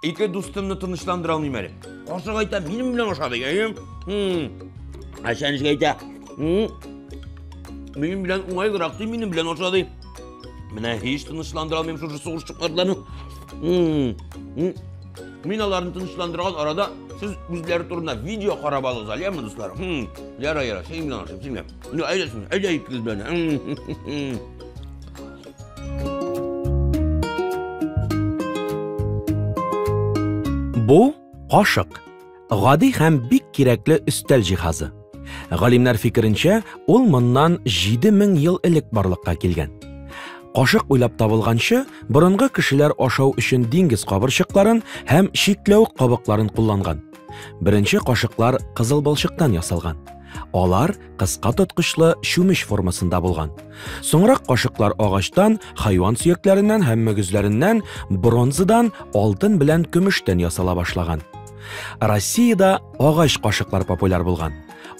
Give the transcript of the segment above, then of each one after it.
Ике дустымны тынычландыра алмыйм әле. Кошык әйтә, минем белән аша дигән. Әшәнешкә әйтә, минем белән уңайлырак ди, минем белән аша ди. Менә һич тынычландыра алмыйм шушы сугышчыкларны. Мин аларны тынычландырган арада сез үзләре турында видео карап алыгыз әле, яме дуслар. Яра, яра, синең белән ашыйм, синең белән. Ну, әйдәсен, әйдә икегез белән. Бу кашык. Гади һәм бик кирәкле өстәл җиһазы. Галимнәр фикеренчә, ул моннан 7000 ел элек барлыкка килгән. Кашык уйлап табылганчы, борынгы кешеләр ашау өчен диңгез кабырчыкларын һәм чикләвек кабыкларын кулланган. Беренче кашыклар кызыл балчыктан ясалган. Алар кыска тоткычлы чүмеч формасында булган. Соңрак кашыклар агачтан, хайван сөякләреннән һәм мөгезләреннән, бронзадан, алтын белән көмештән ясала башлаган. Россиядә агач кашыклар популяр булган.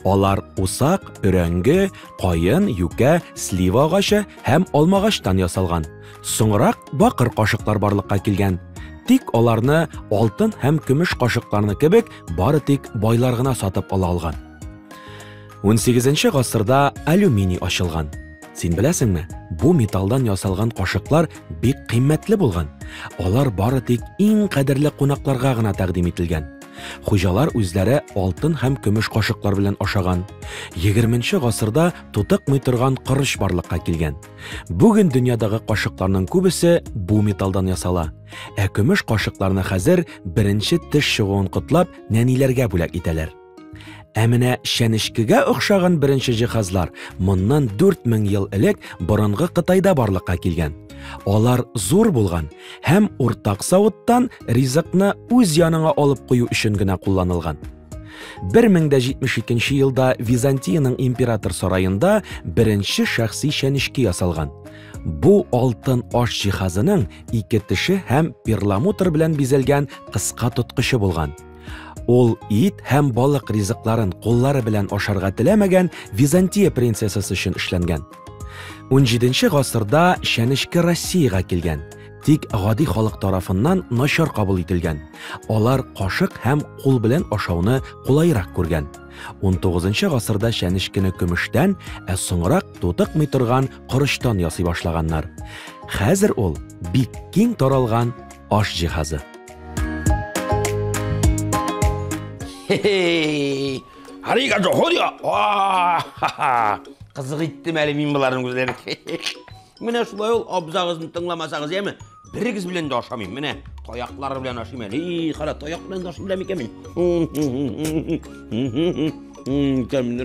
Алар усак, өрәңге, каен, юкә, слива агачы һәм алмагачтан ясалган. Соңрак бакыр кашыклар барлыкка килгән. Тик аларны алтын һәм көмеш кашыкларны кебек бары тик байлар гына сатып ала алган. 18 гасырда алюминий ачылган. Син беләсеңме, бу металдан ясалган кашыклар бик кыйммәтле булган. Алар бары тик иң кадерле кунакларга гына тәкъдим ителгән. Хуҗалар үзләре алтын һәм көмеш кашыклар белән ашаган. 20 гасырда тутыкмый торган корыч барлыкка килгән. Бүген дөньядагы кашыкларның күбесе бу металдан ясала. Ә көмеш кашыкларны хәзер беренче теш чыгуын котлап нәниләргә бүләк итәләр. Ә менә чәнечкегә охшаган беренче җиһазлар моннан 4000 ел элек борынгы Кытайда барлыкка килгән. Алар зур булган һәм уртак савыттан ризыкны үз яныңа алып кую өчен генә кулланылган. 1072 елда Византиянең император сараенда беренче шәхси чәнечке ясалган. Бу алтын аш җиһазының ике теше һәм перламутр белән бизәлгән кыска тоткычы булган. Ул ит һәм балык ризыкларын куллары белән ашарга теләмәгән Византия принцессасы өчен эшләнгән. 17 гасырда чәнечке Россиягә килгән, тик гади халык тарафыннан начар кабул ителгән. Алар кашык һәм кул белән ашауны кулайрак күргән. 19 гасырда чәнечкене көмештән, ә соңрак тутыкмый торган корычтан ясый башлаганнар. Хәзер ул бик киң таралган аш җиһазы. Хе-хей! Харигадо, ходио! Кызык иттем әле мин боларның үзләрен. Менә шулай ул абзагызны тыңламасагыз, яме? Берегез белән дә ашамыйм. Менә таяклар белән ашыйм әле. И, кара, таяк белән дә ашыйм да микән мин? Тәмле.